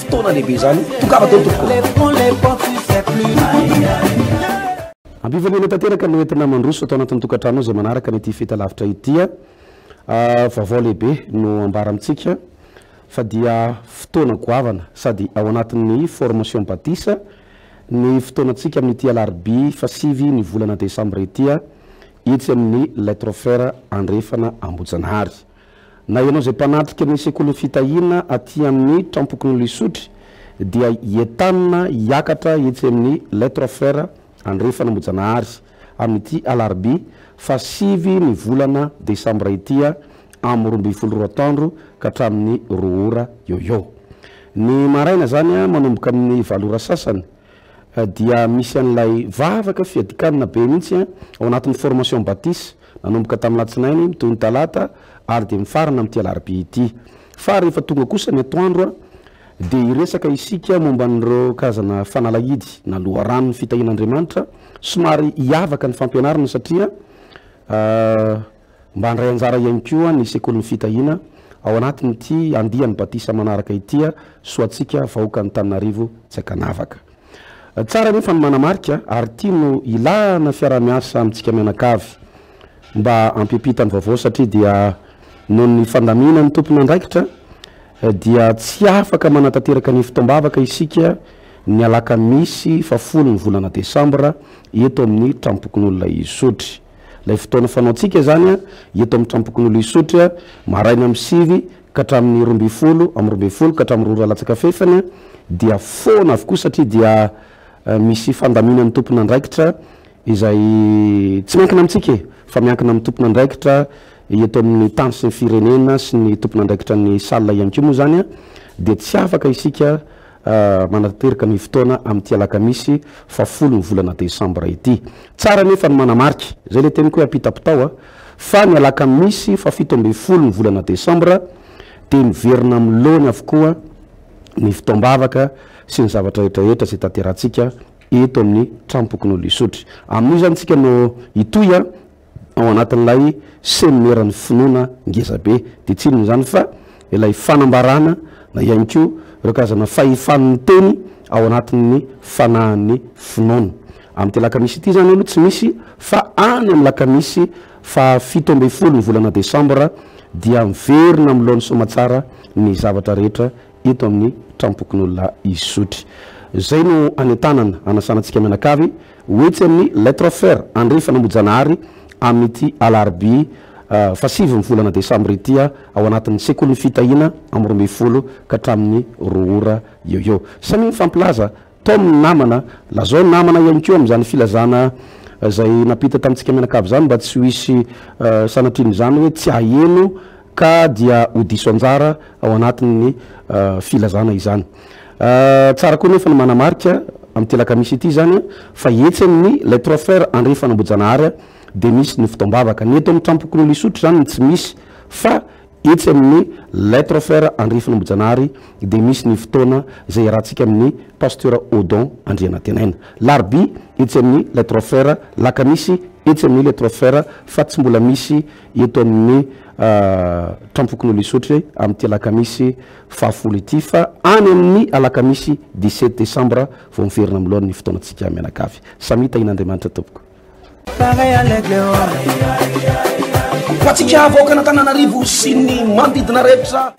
Fotoana lehibe izany, tongava teo tompoko. Ampifanena tanteraka no entina mandroso ato anatin'ny tokantranonao izay manaraka an'ity feta lavitra ity. Vaovao lehibe no ambara amintsika fa dia fotoana goavana sady ao anatin'ny formation batisa ny fotoanantsika amin'ity alarobia fasivy ny volana desambra ity, etsy amin'ny Lettre Frère Andrefana Ambohijanahary. Na ianao izay mpanatrika ny sekolin'ny fitahiana aty amin'ny trampokon'olona isotry dia entanina hiakatra etsy amin'ny Les Trois Frères Andrefana Ambohijanahary amin'ity alarobia fahasivy ny volana desambra ity amin'ny roa ambin'ny folo roa atoandro ka hatramin'ny roa ora eo ho eo ny maraina izany manomboka amin'ny valo ora sasany dia misy an'ilay vavaka fiadikanina be mihitsy an, ao anatin'ny formation batis, nanomboka tamin'ny latsinainy mitohy ny talata ary dia mifarana amin'ity alarobia ity. Fa rehefa tonga kosa ny atoandro an, dia hiresaka isika momba an'ireo karazana fanalahidy na loharanon'ny fitahian'Andriamanitra, somary hiavaka ny fampianarana satria Mba handray anjara ihany koa ny Sekolin'ny Fitahiana ao anatin'ity andiany batisa manaraka ity soantsika vahoakan'Antananarivo tsy ankanavaka. Tsara anefa ny manamarika ary ity no ilana fiaraha-miasa amintsika mianakavy mba hampiampita ny vaovao satria dia noho ny fandaminan'ny tompon'andraikitra dia tsy afaka manatanteraka ny fotoam-bavaka isika ny alakamisy fahafolo ny volana desambra eto amin'ny Tranompokonolona Isotry. Ilay fotoana fanaontsika izany eto amin'ny Tranompokonolona Isotry, maraina amin'ny sivy ka hatramin'ny roa ambin'ny folo, amin'ny roa ambin'ny folo ka hatramin'ny roa ora latsaka fahefany dia foana avokoa satria dia misy fandaminan'ny tompon'andraikitra izay tsy miankina amintsika e! fa miankina amin'ny tompon'andraikitra eto amin'ny tany sy ny firenena sy ny tompon'andraikitra ny salle ihany koa moa izany dia tsy afaka isika manatanteraka ny fotoana amin'ity alakamisy fahafolo ny volana desambra ity. Tsara anefa ny manamarika, izay ilay teniko hoe ampitapitao a, fa ny alakamisy fahafito ambin'ny folo ny volana desambra dia miverina amin'ny laony avokoa ny fotoam-bavaka sy ny zavatra rehetrarehetra izay tanterahantsika eto amin'ny Tranom-pokonolona Isotry. Amin'io izany isika no hitohy a. ao anatin'ilay seminera-n'ny finoana ngeza be. Dia tsy inona izany fa ilay fanambarana na ihany koa ireo karazana fahefan'ny miteny ao anatin'ny fanahin'ny finoana. Amin'ity alakamisy ity izany aloha tsy misy fa any amin'ny lakamisy fahafito ambin'ny folo ny volana desambra dia miverina amin'ny laon'ny soamatsara ny zavatra rehetra eto amin'ny trampokon'olona Isotry. Izay no anentanana, anasana antsika mianakavy. Ho etsy amin'ny Lettre Fer Andrefana Mojanahary amin'ity alarobia fahasivy ny volana desambra ity ao anatin'ny Sekolin'ny Fitahiana amin'ny roa ambin'ny folo ka hatramin'ny roa ora eo eo. Samia mifampilaza tom ny namana, lazao ny namana ihany koa amin'izany filazana izay nampita tamintsika mianakavy izany mba tsy ho hisy sanatria an'izany hoe tsy haheno ka dia ho diso anjara ao anatin'ny filazana izany. Tsara koa nefa ny manamarika amin'ity alakamisy ity izany fa etsy amin'ny Les Trois Frères andrefana Ambohijanahary dia misy ny fotoam-bavaka. Ny eto amin'ny Trampokonin'i Lisotry izany no tsy misy fa etsy amin'ny Les Trois Frères andrefana Ambohijanahary dia misy ny fotoana izay iarahantsika amin'ny Pasteur Odon Andrianantenaina. Larobia etsy amin'ny Les Trois Frères, Alakamisy etsy amin'ny Les Trois Frères fa tsy mbola misy eto amin'ny Trampokonolona Isotry amin'ity alakamisy fahafolo ity fa any amin'ny alakamisy dix sept décembre vao miverina amin'ny laoniny fotoanantsika mianakavy. Samia tahian'Andriamanitra tompoko. Ho antsika vahoakan'Antananarivo sy ny manodidina rehetra.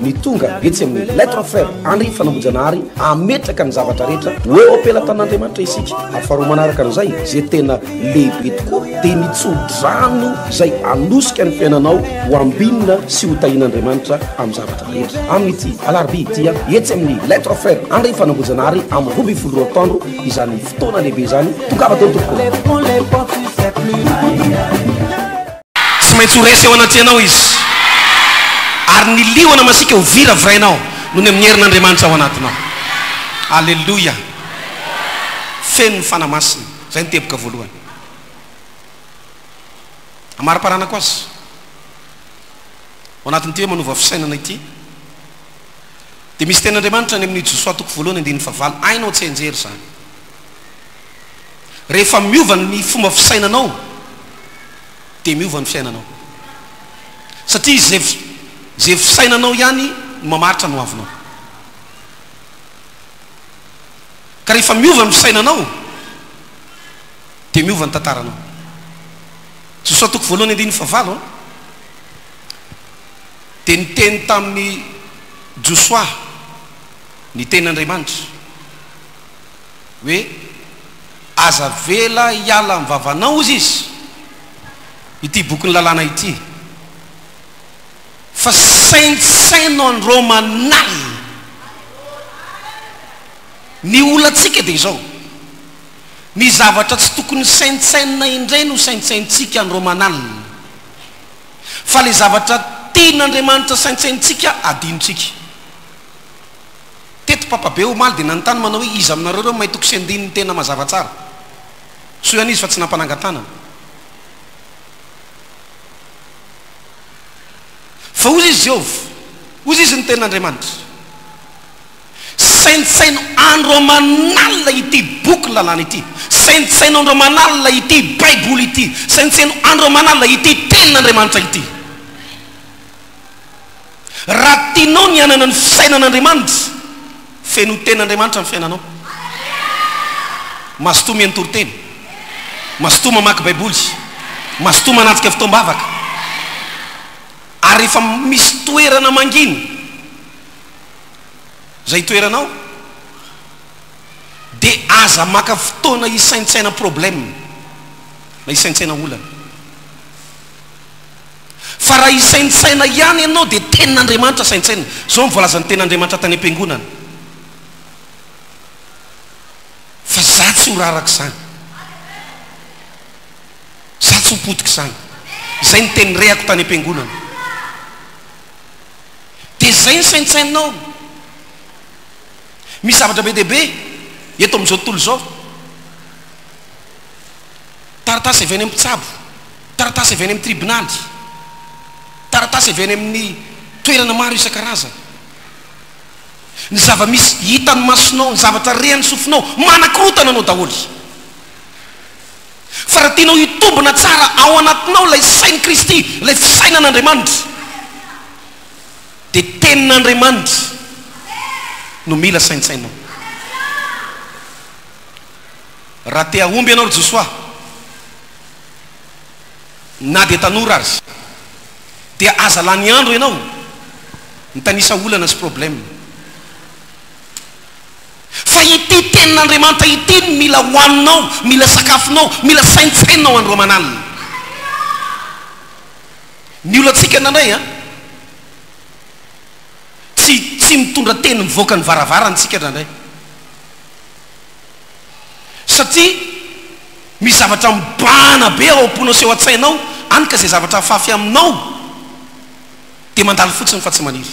ny tonga etsy amin'ny Lettre Frère Henri Fanambojanahary ametraka ny zavatra rehetra ho eo am-pelatanan'Andriamanitra isika ary faharoa manaraka an'izay izay tena lehibe tokoa dia ny tso-drano izay anosika ny fiainanao ho ambinina sy ho tahin'Andriamanitra amin'ny zavatra rehetra amin'ity alarobia ity etsy amin'ny Lettre Frère Henri Fanambojanahary amin'ny roa ambin'ny folo roa taondro izany fotoana lehibe izany tongava teo tompoko Tsy maintsy ho resy eo anatrehanao izy, ary ny liona masiaka ho viravirainao nony amin'ny herin'Andriamanitra ao anatinao. Aleloia! Feno ny Fanahy Masina. Izay no teboka voalohany. Amariparanako azy, ao anatin'ity hoe manova fisainana ity, dia misy tenin'Andriamanitra any amin'ny Josoa toko voalohany andininy fahavalo, hainao tsy hianjera izany. Rehefa miova ny fomba fisainanao dia miova ny fiainanao. Satria izay izay fisainanao ihany no mamaritra ny hoavinao. Ka rehefa miova ny fisainanao dia miova ny tantaranao. Josoa toko voalohany andininy fahavalo an. Dia niteny tamin'i Josoa ny tenin'Andriamanitra. hoe aza avela hiala amin'ny vavanao hozy izy ity bokin'ny lalàna ity fa saintsaino anreo manahy ny olantsika dia izao ny zavatra tsy tokony saintsainina indray no saintsaintsika anreo manalina fa le zavatra tian'Andriamanitra saintsaintsika adinontsika Teto papabe omaly dia nanontany manao hoe iza aminareo ireo maitoko sy andininy tena mazava tsara? Soa ihany izy fa tsy nampanangan-tanana. Fa hozy izy Jehovah, hozy izy ny Tenin'Andriamanitra. Saintsaino andro aman'alina ity boky lalàna ity. Saintsaino andro aman'alina ity Baiboly ity. Saintsaino andro aman'alina ity Tenin'Andriamanitra ity. Raha tianao ny hanana ny fisainan'Andriamanitra, fenoy ten'Andriamanitra ny fiainanao. Mazotoa mihaino toriteny. Mazotoa mamaky Baiboly. Mazotoa manatrika fotoam-bavaka. Ary rehefa misy toerana mangina izay itoeranao, dia aza maka fotoana hisaintsaina problème na hisaintsaina olana. Fa raha hisaintsaina ihany ianao dia tenin'Andriamanitra saintsainina. Izao no voalazan'ny tenin'Andriamanitra tany am-piangonana, Fa izaho tsy ho raraka izany. Izaho tsy ho potika izany. Izay no teny rehako tany am-piangonana. Dia izay no saintsaininao. Misy zavatra be dia be eto amin'izao tontolo izao. Taratasy avy any amin'ny mpitsabo, taratasy avy any amin'ny tribonaly, taratasy avy any amin'ny toerana maro isan-karazany. Ny zava-misy hitan'ny masonao, ny zavatra rean'ny sofinao, manakorotana anao daholo. Fa raha tianao hitombina tsara ao anatinao ilay sain'i Kristy, ilay fisainan'Andriamanitra, dia Tenin'Andriamanitra no mila saintsainao. Raha te hahomby ianao ry Josoa, na dia tanora aza, dia aza lany andro ianao mitanisa olana sy problème, fa ity Tenin'Andriamanitra ity no mila hohaninao, mila sakafonao, mila saintsaininao andro aman'alina. Ny olantsika indraindray an, tsy tsy mitondra teny mivoaka ny varavarana isika indraindray. Satria misy zavatra mibahana be ao am-ponao sy ao an-tsainao any ka izay zavatra afafy aminao dia mandalo fotsiny fa tsy maniry.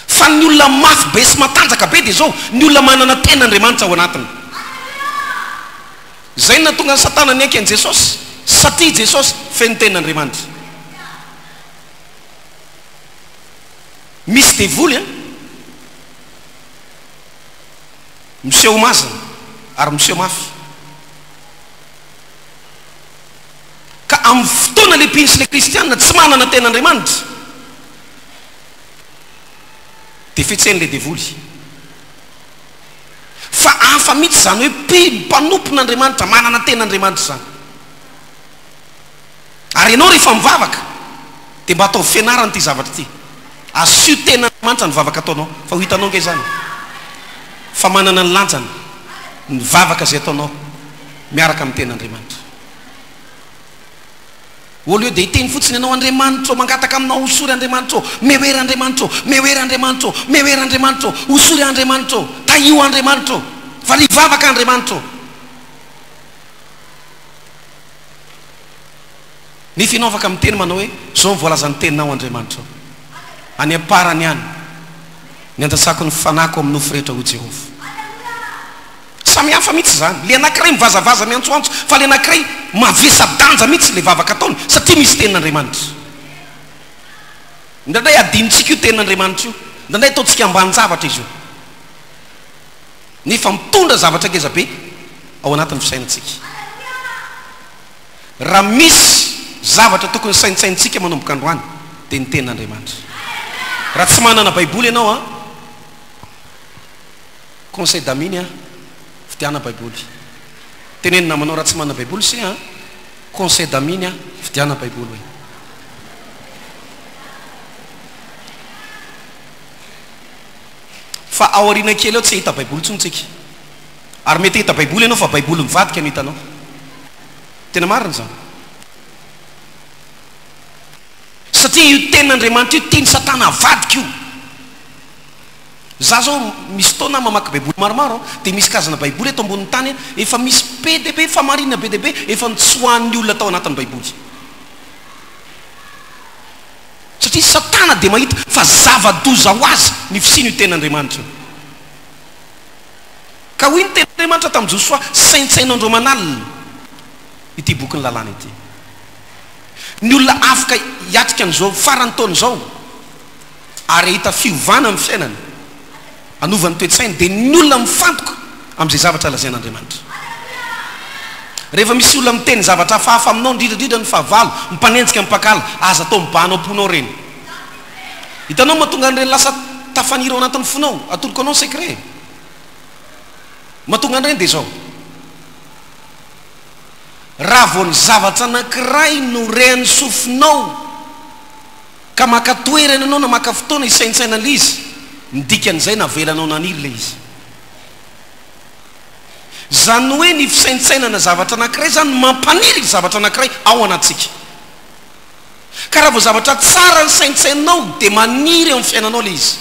Fa ny olona mafy be sy matanjaka be dia izao, ny olona manana tena Andriamanitra ao anatiny. Izay no nahatonga an'i Satana niaiky an'i Jesosy, satria i Jesosy feno tena Andriamanitra. Misy devoly an! Miseho mazina ary miseho mafy. Ka amin'ny fotoana limpintsy ilay kristiana tsy manana tena Andriamanitra dia fetsen'ilay devoly. Fa hafa mihitsy izany hoe mpino, mpanompon'Andriamanitra, manana tena Andriamanitra izany. Ary ianao rehefa mivavaka dia mba ataovy fianarana ity zavatra ity. Asio tena Andriamanitra ny vavaka ataonao. Fa ho hitanao ange izany fa manana ny lanjany ny vavaka izay ataonao miaraka amin'ny tena Andriamanitra. Au lieu dia hiteny fotsiny ianao Andriamanitra ô, mangataka aminao hosory Andriamanitra ô, meoera Andriamanitra ô, meoera Andriamanitra ô, meoera Andriamanitra ô, hosory ahy Andriamanitra ô, tahio ahy Andriamanitra ô, varivo vavaka ahy Andriamanitra ô. Nefa ianao afaka miteny manao hoe, Izao no voalazan'ny Teninao, Andriamanitra ô. Any am-parany ihany, niandrasako ny fanahiko amin'ny nofy rehetra, hoy Jehovah. Samy hafa mihitsy izany. Ilay anankiray mivazavaza miantsoantso, fa ilay anankiray mavesa-danja mihitsy ilay vavaka ataony, satria misy Tenin'Andriamanitra. Indraindray adinontsika io Tenin'Andriamanitra io. Indraindray ataontsika ambanin-javatra izy io. nefa mitondra zavatra ngeza be ao anatin'ny fisainantsika. Raha misy zavatra tokony saintsainintsika manomboka androany dia ny Tenin'Andriamanitra. Raha tsy manana Baiboly ianao an, conseil d'amine an, vidiana Baiboly. Teneno namanao raha tsy manana Baiboly se an, conseil d'amine an, vidiana Baiboly hoe. Fa ao aoriana kely ao tsy hahita baiboly intsony tsika. Ary mety hahita baiboly ianao fa baiboly mivadika no hitanao. Tena marina izany. Satria io tenin'Andriamanitra io tian'i satana avadika io. Za zao misy taona aho mamaky baiboly maromaro an, dia misy karazana baiboly eto ambonin'ny tany an, efa misy be dia be famarinana be dia be efa nitsoahan'ny olona tao anatin'ny baiboly. satria Satana dia mahita fa zava-doza ho azy ny fisian' io Teny Andriamanitra io. Ka hoy ny Teny Andriamanitra tamin'i Josoa, Saintsaino andro aman'alina ity boky ny lalàna ity. Ny olona afaka hiatrika an'izao faran'ny taona izao ary hahita fiovana amin'ny fiainany. Hanova ny toe-tsainy dia ny olona mifantoka amin'izay zavatra lazain'Andriamanitra. Rehefa misy olona miteny zavatra hafahafa aminao, indrindra indrindra ny fahavalo, mpanenjika, mpakala, aza atao mibahana ao am-ponao ireny. Hitanao ny mahatonga an'ireny lasa tafaniry ao anatin'ny fonao? Atoroko anao ny secret e. Mahatonga an'ireny dia izao, raha vao ny zavatra anankiray no rean'ny sofinao, Ka maka toerana ianao na maka fotoana hisaintsaina ilay izy, ny dikan'izay navelanao naniry ilay izy. Izany hoe ny fisaintsainana zavatra anankiray izany no mampaniry ilay zavatra anankiray ao anatintsika. Ka raha vao zavatra tsara no saintsaininao dia maniry eo amin'ny fiainanao ilay izy.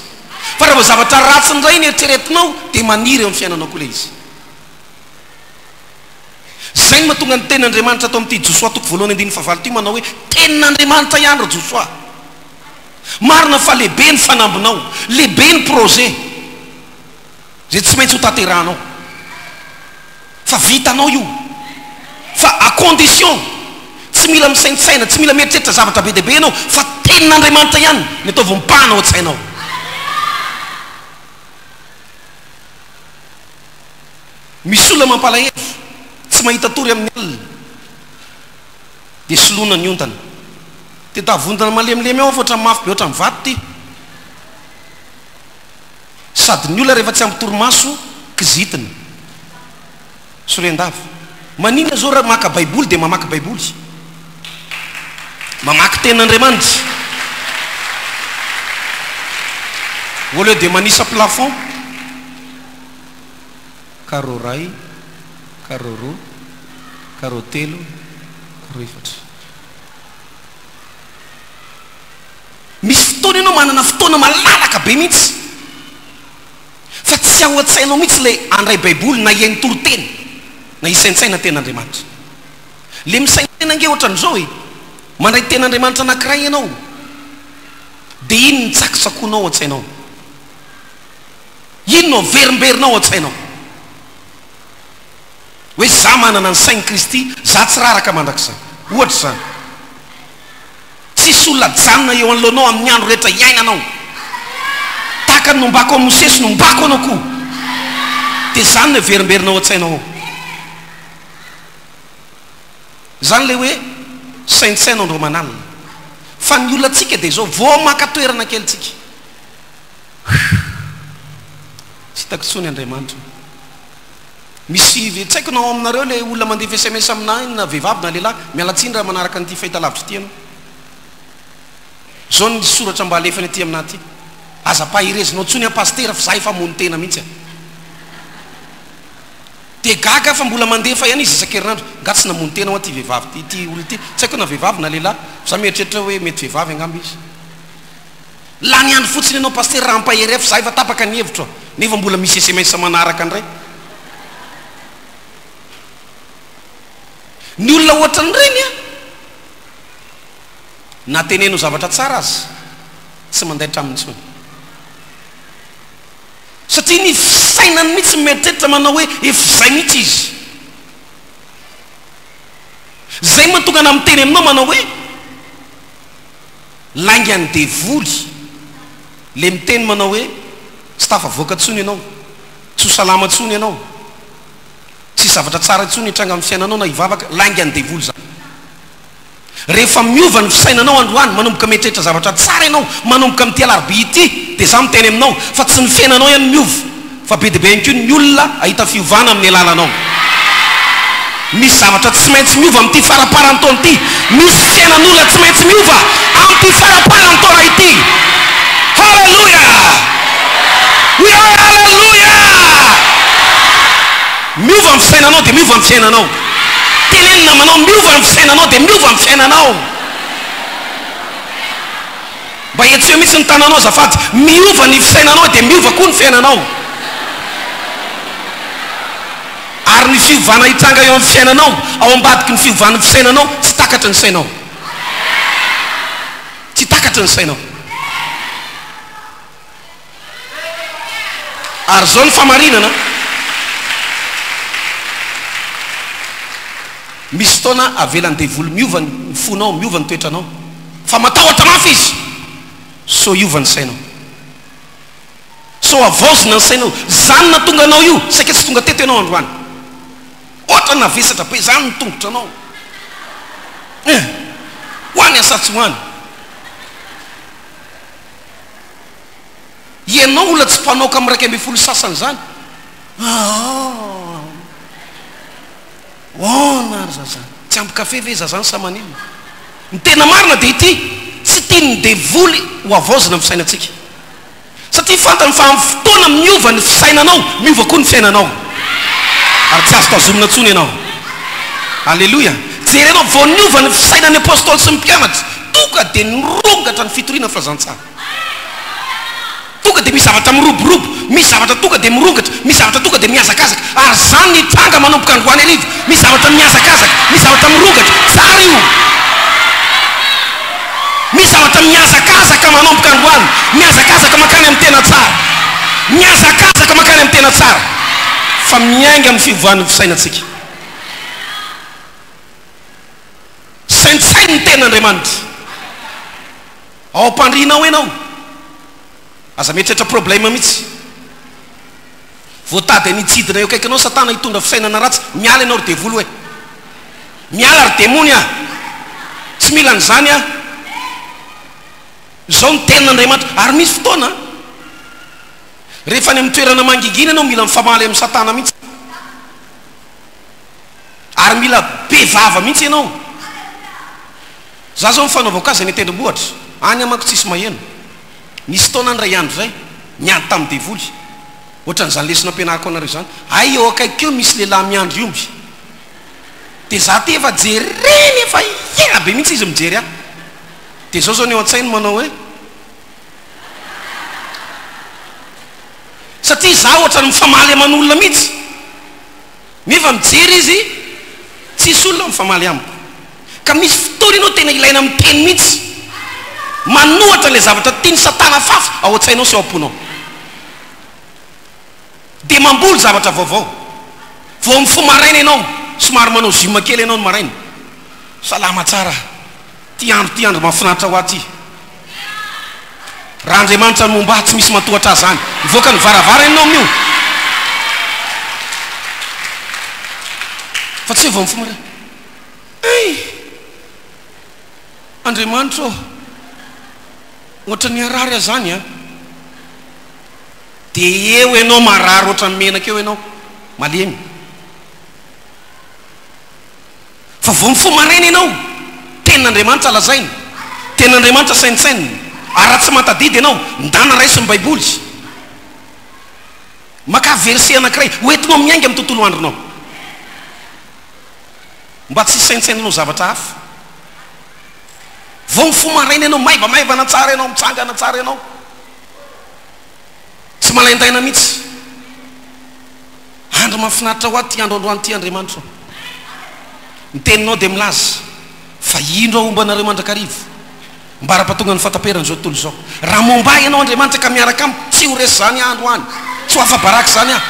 Fa raha vao zavatra ratsy indray no eritreretinao dia maniry eo amin'ny fiainanao koa ilay izy. Izay no mahatonga ny tenin'Andriamanitra ato amin'ity Josoa toko voalohany andininy fahavalo ity manao hoe, Tenin'Andriamanitra ihany ry Josoa. Marina fa lehibe ny fanambinao, lehibe ny projet izay tsy maintsy hotanterahanao. Fa vitanao io. Fa à condition, tsy mila misaintsaina, tsy mila mieritreritra zavatra be dia be ianao fa tenin'Andriamanitra ihany ny ataovy mipahana ao an-tsainao. Misy olona mampalahelo, tsy mahita tory amin'ny alina, dia soloina ny ondana. Dia tavondrona malemilemy ao aho fa ohatran'ny mafy be ohatran'ny vato ity. Sady ny olona rehefa tsy ampy torimaso, kizitina. Sorian-dava. Maninona izao raha maka Baiboly dia mamaky Baiboly? Mamaky Tenin'Andriamanitra. Au lieu de manisa plafond. Carreau iray, carreau roa, carreau telo, carreau efatra. Misy fotoana ianao manana fotoana malalaka be mihitsy fa tsy ao an-tsainao mihitsy ilay handray Baiboly na hihaino toriteny na hisaintsaina tena Andriamanitra. Ilay misaintsaina ange ohatran'izao e, mandray tena Andriamanitra anankiray ianao dia iny ny tsakotsakoanao ao an-tsainao. Inona no averimberina ao an-tsainao? Hoe izaho manana ny sain'i Kristy, izaho tsy raraka mandrakizay. Ohatra izany. Tsisy olona ajanona eo anoloanao amin'ny andro rehetra iainanao. Tahaka ny nombako an'i Mosesy, nombako anao koa. Dia izany no averimberina ao an-tsainao ao. Izany ilay hoe saintsaino andro aman'alina. Fa ny olantsika dia izao, vao maka toerana kely tsika. Tsy hitako intsony Andriamanitra o. Misy ve tsy haiko na ao aminareo ilay olona mandefa sms aminà iny na vehivavy na lehilahy, miala tsiny raha manaraka an'ity fahitalavitra ity ianao. Izao ny soratra mba alefany aty aminà aty, Aza paherezinao intsony aho Pasitera fa za efa hamono tena mihitsy a. Dia gaga aho fa mbola mandefa ihany izy isan-kerinandro. Nga tsy namono tena hoa ity vehivavy ity, ity olona ity, tsy haiko na vehivavy na lehilahy, fa za mieritreritra hoe mety vehivavy angamba izy. Lany andro fotsiny ianao Pasitera raha ampahery ahy fa za efa tapaka ny hevitro a! Nefa mbola misy sms manaraka ndray. Ny olona ohatran'ireny a! Na teneno zavatra tsara aza tsy mandaitra aminy intsony. Satria ny fisainany mihitsy mieritreritra manao hoe efa izay mihitsy izy. Zay mahatonga anah miteny aminao manao hoe. Laingan'ny devoly le miteny manao hoe tsy tafavoaka intsony ianao, tsy ho salama intsony ianao, tsisy zavatra tsara intsony hitranga amin'ny fiainanao na hivavaka, laingan'ny devoly izany. Rehefa miova ny fisainanao androany, manomboka mieritreritra zavatra tsara ianao manomboka amin'ity alarobia ity dia izaho miteny aminao fa tsy ny fiainanao ihany no miova, fa be dia be ihany koa ny olona hahita fiovana amin'ny alalanao. Misy zavatra tsy maintsy miova amin'ity faramparan'ny taona ity. Misy fiainan'olona tsy maintsy miova amin'ity faramparan'ny taona ity. Haleloia! Hoe aho haleloia! Miova ny fisainanao dia miova ny fiainanao. Teneno namanao miova ny fisainanao dia miova ny fiainanao. Mba hentseho mihitsy ny tananao azafady. Miova ny fisainanao dia miova koa ny fiainanao. Ary ny fiovana hitranga eo amin'ny fiainanao, ao ambadiky ny fiovan'ny fisainanao, tsy takatry ny sainao. Tsy takatry ny sainao. Ary izao ny famarinana, Misy fotoana avelan'ny devoly miova ny fonao, miova ny toetranao, fa matahotra mafy izy sao hiova ny sainao, sao havaozina ny sainao. Izany nahatonga anao io, saika tsy tonga teto ianao androany. Hoatran'ny navesatra be izany ny tongotranao, eh! Ho any sa tsy ho any? Ianao mbola tsy mpanoka amin'ny iraika ambin'ny folo sasany izany? Ahaaa. Hoana ary zazà? Tsy ampy kafe ve zazà sa maninona? Ny tena marina dia ity, tsy tian'ny devoly ho havaozina ny fisainantsika. Satria fantany fa amin'ny fotoana miova ny fisainanao, miova koa ny fiainanao. Ary tsy azo tazomina intsony ianao. Aleloia. Jereo vao niova ny fisainan'ny apostoly sy ny mpianatra, tonga dia nirongatra ny fitoriana ny filazantsara. Tonga dia misy zavatra miroborobo, misy zavatra tonga dia mirongatra, misy zavatra tonga dia mihazakazaka, ary izany nitranga manomboka androany hariva, misy zavatra mihazakazaka, misy zavatra mirongatra, tsara io, misy zavatra mihazakazaka manomboka androany, mihazakazaka mankany amin'ny tena tsara, mihazakazaka mankany amin'ny tena tsara, fa miainga amin'ny fiovan'ny fisainantsika. Saintsaino ny Tenin'Andriamanitra. Ao ampandriana ao enao. Aza mieritreritra problème mihitsy. Voatady any hitsidina eo akaikinao satana hitondra fisainana ratsy. Miala enao ry devoly hoe. Miala ry demony a. Tsy mila an'izany aho. Izao ny tenin'Andriamanitra. Ary misy fotoana an. Rehefa any amin'ny toerana mangingina enao mila mifamaly amin'i satana mihitsy. Ary mila be vava mihitsy enao. Za zao mifanaova cas any tendrombohitra any manko tsisy maheno. Nisy taona any ray andro zay niady tam devoly. Ohatran zany lesona ampianariko anareo zany. Hay eo akaiky eo misy lehilahy miandry omby. De za te efa jereny efa hiaina be mihitsy izy mijery ahy. De zao zao ny eo antsainy manao hoe. Satria za ohatran mifamaly aman olona mihitsy. Nefa mijery izy, tsisy olona mifamaly amiko. Ka misy fotoana ianao tena ilaina miteny mihitsy. Manohatra ilay zavatra tian'i Satana fafy ao an-tsainao sy ao am-ponao. Dia mamboly zavatra vaovao. Vao mifoha maraina ianao, somary manao gym kely ianao ny maraina. Salama tsara, ity andro ity andro mahafinaritra ho ahy ity. Raha Andriamanitra no homba tsy misy matohatra Azy any. Mivoaka ny varavara ianao amin'io. Fa tsy hoe vao mifoha maraina. Hey! Andriamanitra ô! Ohatra ny harary aza any an. Dia eo ianao marary ohatra ny menaka eo ianao. Malemy. Fa vao mifoha maraina ianao, Tenin'Andriamanitra lazainy, Tenin'Andriamanitra saintsaininy, ary raha tsy mahatadidy ianao, ndana raiso ny Baiboly. Makà verset anankiray hoentinao miainga amin'ny tontolo andronao, mba tsy hisaintsainanao zavatra hafa. Vao mifoha maraina ianao, maivamaivana tsara ianao, mitsangana tsara ianao. Tsy malaindaina mihitsy. Andro mahafinaritra ho ahy ity andro androany ity Andriamanitra o. Ny teninao dia milaza fa indro aho homba anareo mandrakariva ambara-pahatongan'ny fahataperan'izao tontolo izao. Raha momba ahy ianao Andriamanitra ka miaraka amiko tsy ho resy izany andro any, tsy ho afa-baraka izany aho.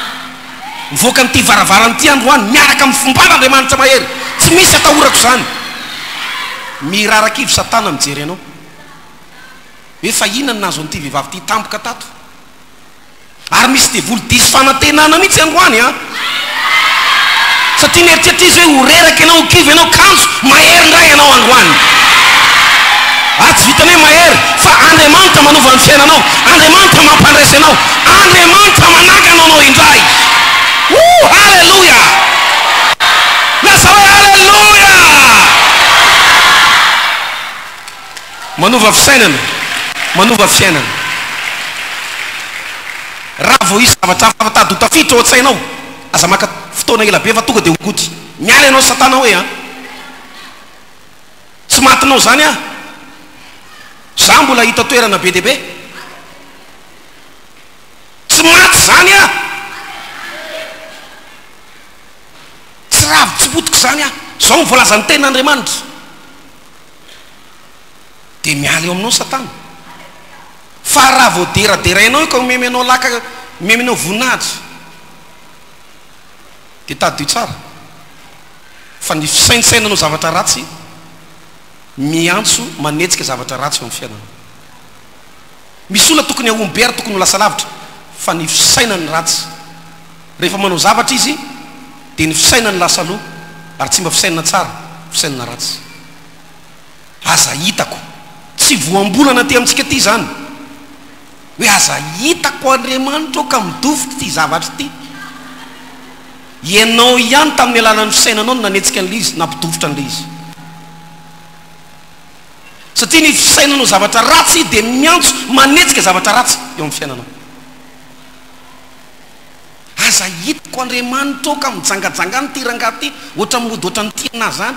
Mivoaka amin'ity varavarana ity andro any miaraka amin'ny fombana Andriamanitra mahery tsy misy atahorako izany. Mirarakivo Satana mijery anao. Hoe fa inona no nahazo an'ity vehivavy ity tampoka tato? Ary misy devoly diso fanantenana mihitsy androany an! Satria mieritreritra izy hoe ho reraka ianao, ho kivy ianao, kanjo mahery indray ianao androany. Ary tsy vitan'ny hoe mahery, fa Andriamanitra manova ny fiainanao, Andriamanitra mampandraisa ianao, Andriamanitra manangana anao indray. Woo! Haleloia! Lazao hoe haleloia! Manova fisainana, manova fiainana. Raha vao hisy zavatra hafa mitady ho tafiditra ao an-tsainao, aza maka fotoana ela be fa tonga dia ho gouty. Miala ianao Satana hoe an! Tsy matinao izany aho. Izaho mbola hahita toerana be dia be. Tsy maty izany aho. Tsy ravo tsy potika izany aho. Izao no voalazan'ny Tenin'Andriamanitra. dia miala eo aminao ny satana fa raha vao deraderainao io ka omemy anao laka omemy anao voninahitra dia tadidio tsara fa ny fisaintsainanao zavatra ratsy miantso manetsika zavatra ratsy eo amin'ny fiainanao misy olona tokony hahomby be ary tokony ho lasa lavitra fa ny fisainany ratsy Rehefa manao zavatra izy dia ny fisainany lasa aloha ary tsy mba fisainana tsara, fisainana ratsy. Aza hitako. Tsy voambolana aty amintsika aty izany hoe aza hitako Andriamanitra ô ka midofiko ity zavatra ity. Ianao ihany tamin'ny alalan'ny fisainanao no nanetsika an'ilay izy, nampidofotra an'ilay izy. Satria ny fisainanao zavatra ratsy dia miantso manetsika zavatra ratsy eo amin'ny fiainanao. Aza hitako Andriamanitra ô ka mijangajanga any ty rangahy ty ohatran'ny mody ohatran'ny tianà zany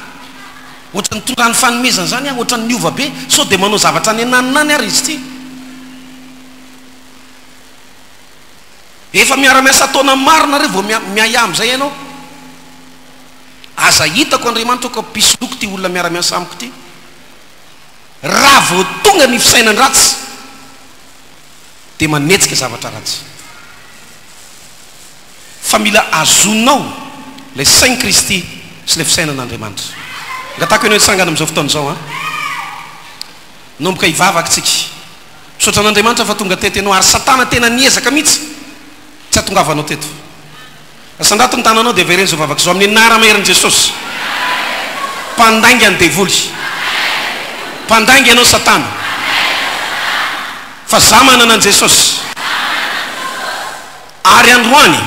ohatran'ny tonga any fanomezana zany aho ohatran'ny niova be sao dia manao zavatra any ananona any ary izy ty efa miara miasa taona maro nareo vao miahiahy amin'izay ianao aza hitako Andriamanitra ô ka mpisoloky ty olona miara miasa amiko ty raha vao tonga ny fisainan-dratsy dia manetsika zavatra ratsy. Fa mila azonao ilay sain'i Kristy sy ilay fisainan'Andriamanitra. Angatahiko ianao hitsangana amin'izao fotoana izao an. Hanomboka hivavaka isika. Misaotra an'Andriamanitra fa tonga teto ianao ary Satana tena niezaka mihitsy tsy hahatongavanao teto. Asandrato ny tananao dia avereno izao vavaka izao amin'ny anarama herin'i Jesosy. Mpandainga ny devoly. Mpandainga ianao satana. Fa za manana an'i Jesosy. Ary androany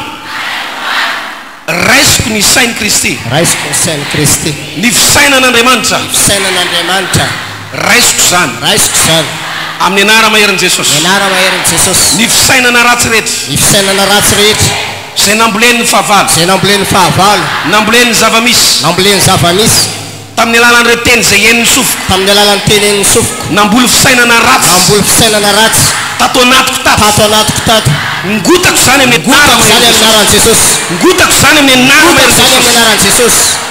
raisiko ny sain'i Kristy. Raisiko ny sain'i Kristy. Ny fisainan'Andriamanitra. Ny fisainan'Andriamanitra. Raisiko izany. Raisiko izany. Amin'ny Anara maherin'i Jesosy. Amin'ny Anara maherin'i Jesosy. Ny fisainana ratsy rehetra. Ny fisainana ratsy rehetra. Izay nambolen'ny fahavalo. Izay nambolen'ny fahavalo. Nambolen'ny zava-misy. Nambolen'ny zava-misy. Tamin'ny alalan'ireo teny izay henon'ny sofiko. Tamin'ny alalan'ny teny henon'ny sofiko. Namboly fisainana ratsy. Namboly fisainana ratsy. Tato anatiko tato. Tato anatiko tato. Ngotako izany amin'ny Anara maherin'i Jesosy. Ngotako izany amin'ny Anara maherin'i Jesosy. Ngotako izany amin'ny Anaran'i Jesosy.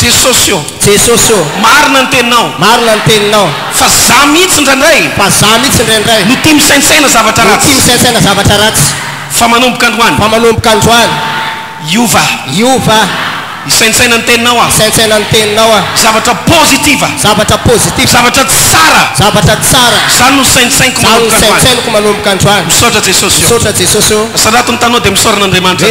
Jesosy ô! Jesosy ô! Marina ny teninao. Marina ny teninao. Fa za mihitsy indraindray. Fa za mihitsy indraindray. No tia misaintsaina zavatra ratsy. No tia misaintsaina zavatra ratsy. Fa manomboka androany. Fa manomboka androany. Hiova aho. Hiova aho. Hisaintsaina ny teninao aho. Hisaintsaina ny teninao aho. Zavatra positiva. Zavatra positiva. Zavatra tsara. Zavatra tsara. Zany no saintsainiko manomboka androany. Zany no saintsainiko manomboka androany. Misaotra Jesosy ô. Misaotra Jesosy ô. Asarato ny tanao dia misaorana Andriamanitra.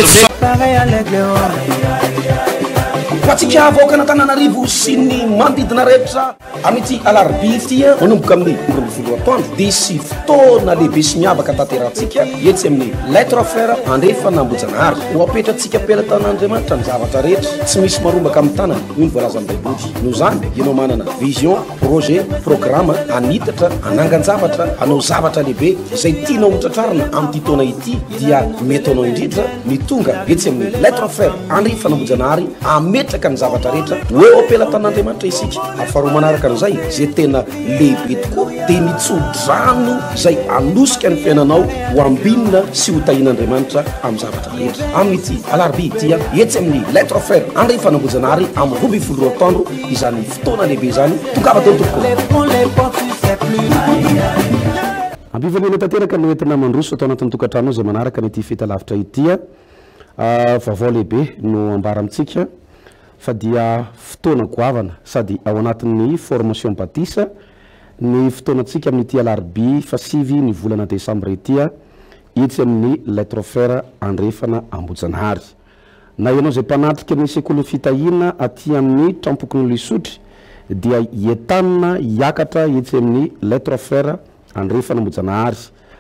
Ho antsika vahoakan'Antananarivo sy ny manodidina rehetra, amin'ity alarobia ity, manomboka amin'ny roa ambin'ny folo atoandro, dia hisy fotoana lehibe sy miavaka tanterahantsika etsy amin'ny Lettre à Frère andrefana Ambohijanahary. Ho apetrantsika am-pelatanan'Andriamanitra ny zavatra rehetra, tsy misy marombaka amin'ny tanany, hoy ny voalazan'ny Baiboly. Noho izany, ianao manana vision, projet, programme, hanitatra, hanangan-javatra, hanao zavatra lehibe izay tianao hotratrarina amin'ity taona ity, dia mety ho anao indrindra, ny tonga etsy amin'ny Lettre Frère Henri Fanambojanahary ametraka ny zavatra rehetra ho eo am-pelatanan'Andriamanitra isika ary faharoa manaraka an'izay izay tena lehibe tokoa dia ny tso-drano izay anosika ny fiainanao ho ambinina sy ho tahin'Andriamanitra amin'ny zavatra rehetra amin'ity alarobia ity etsy amin'ny Lettre Frère Henri Fanambojanahary amin'ny roa ambin'ny folo roa taondro izany fotoana lehibe izany tongava teo tompoko Ampivonena tanteraka no entina mandroso tao anatin'ny tokantranonao izay manaraka ny ity feta lavitra ity. Vaovao lehibe no ambara amintsika fa dia fotoana goavana sady ao anatin'ny formation batisa ny fotoanantsika amin'ity alarobia fahasivy ny volana desambra ity etsy amin'ny Lettre Frère Andrefana Ambohijanahary. Na ianao izay mpanatrika ny sekolin'ny fitahiana aty amin'ny trampokon'olona isotry dia entanina hiakatra etsy amin'ny Les Trois Frères Andrefana Ambohijanahary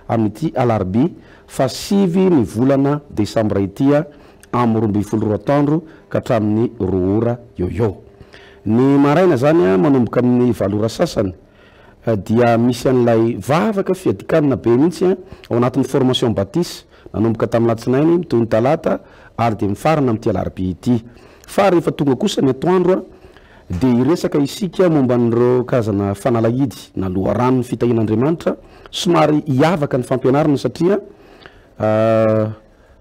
amin'ity alarobia fahasivy ny volana desambra ity amin'ny roa ambin'ny folo roa atoandro ka hatramin'ny roa ora eo ho eo ny maraina izany manomboka amin'ny valo ora sasany dia misy an'ilay vavaka fiadikanina be mihitsy an, ao anatin'ny formation batis, nanomboka tamin'ny latsinainy mitohy ny talata ary dia mifarana amin'ity alarobia ity. Fa rehefa tonga kosa ny atoandro an, dia hiresaka isika momba an'ireo karazana fanalahidy na loharanon'ny fitahian'Andriamanitra, somary hiavaka ny fampianarana satria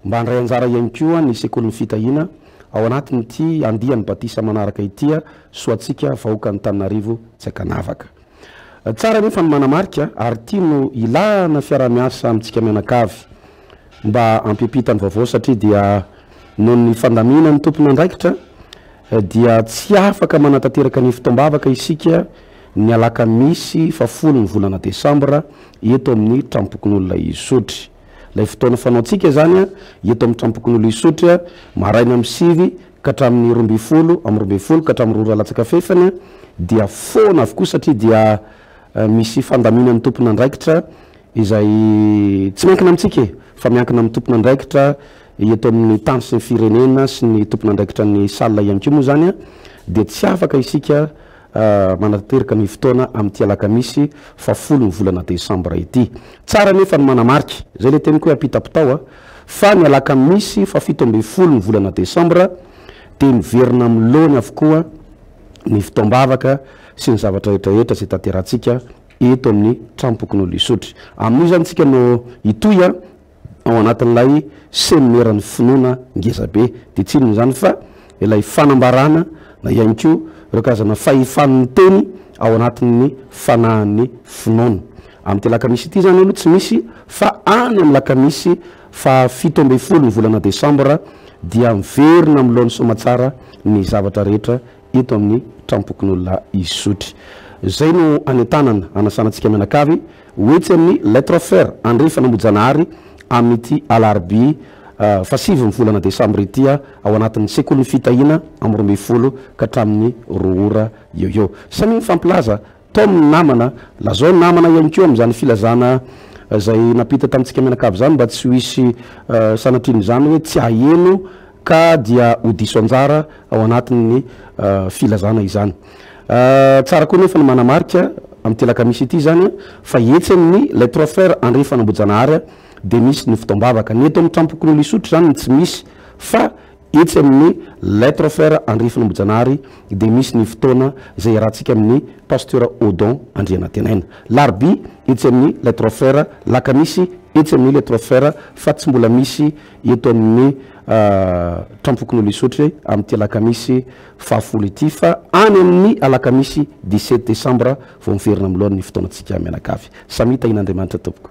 Mba handray anjara ihany koa ny Sekolin'ny Fitahiana ao anatin'ity andiany batisa manaraka ity Soatsika vahoakan'Antananarivo tsy ankanavaka. Tsara anefa ny manamarika ary ity no ilana fiaraha-miasa amintsika mianakavy mba hampiampita ny vaovao satria dia noho ny fandaminan'ny tompon'andraikitra dia tsy afaka manatanteraka ny fotoam-bavaka isika ny alakamisy fahafolo ny volana desambra eto amin'ny Trampokonolona Isotry. Ilay fotoana fanaontsika izany eto amin'ny Tranompokonolona Isotry, maraina amin'ny sivy ka hatramin'ny roa ambin'ny folo, amin'ny roa ambin'ny folo ka hatramin'ny roa ora latsaka fahefany dia foana avokoa satria dia misy fandaminan'ny tompon'andraikitra izay tsy miankina amintsika e! fa miankina amin'ny tompon'andraikitra eto amin'ny tany sy ny firenena sy ny tompon'andraikitra ny salle ihany koa moa izany dia tsy afaka isika Manatanteraka ny fotoana amin'ity alakamisy faha folo ny volana desambra ity. Tsara anefa ny manamarika, izay ilay teniko hoe ampitapitao a, fa ny alakamisy faha fito ambin'ny folo ny volana desambra dia miverina amin'ny laony avokoa ny fotoam-bavaka sy ny zavatra rehetrarehetra izay tanterahantsika eto amin'ny Trampokonolona Isotry. Amin'io izany isika no hitohy a. ao anatin'ilay seminera-n'ny finoana ngeza be. Dia tsy inona izany fa ilay fanambarana na ihany koa ireo karazana fahefan'ny miteny ao anatin'ny fanahin'ny finoana. Amin'ity alakamisy ity izany aloha tsy misy fa any amin'ny lakamisy fahafito ambin'ny folo ny volana desambra dia miverina amin'ny laon'ny soamatsara ny zavatra rehetra eto amin'ny trampokon'olona Isotry. Izay no anentanana, anasana antsika mianakavy. Ho etsy amin'ny Lettre Fer Andrefa Namojanahary amin'ity alarobia fahasivy ny volana desambra ity ao anatin'ny sekolin'ny fitahiana amin'ny roa ambin'ny folo ka hatramin'ny roa ora eo eo. Samy nifampilaza tom ny namana, lazao ny namana ihany koa amin'izany filazana izay nampita tamintsika mianakavy izany mba tsy ho hisy sanatria an'izany hoe tsy haheno ka dia ho diso anjara ao anatin'ny filazana izany. Tsara koa nefa ny manamarika amin'ity alakamisy ity izany fa etsy amin'ny Les Trois Frères andrefana Ambohijanahary dia misy ny fotoam-bavaka. Ny eto amin'ny Trampokonin'i Lisotry izany no tsy misy fa etsy amin'ny Les Trois Frères andrefana Ambohijanahary dia misy ny fotoana izay iarahantsika amin'ny Pasteur Odon Andrianatenaina. Larobia etsy amin'ny Les Trois Frères, Lakamisy etsy amin'ny Les Trois Frères fa tsy mbola misy eto amin'ny Trampokonolona Isotry amin'ity alakamisy fahafolo ity fa any amin'ny alakamisy dix sept desambra vao miverina amin'ny lohan'ny fotoanantsika mianakavy. Samia tahian'Andriamanitra tompoko.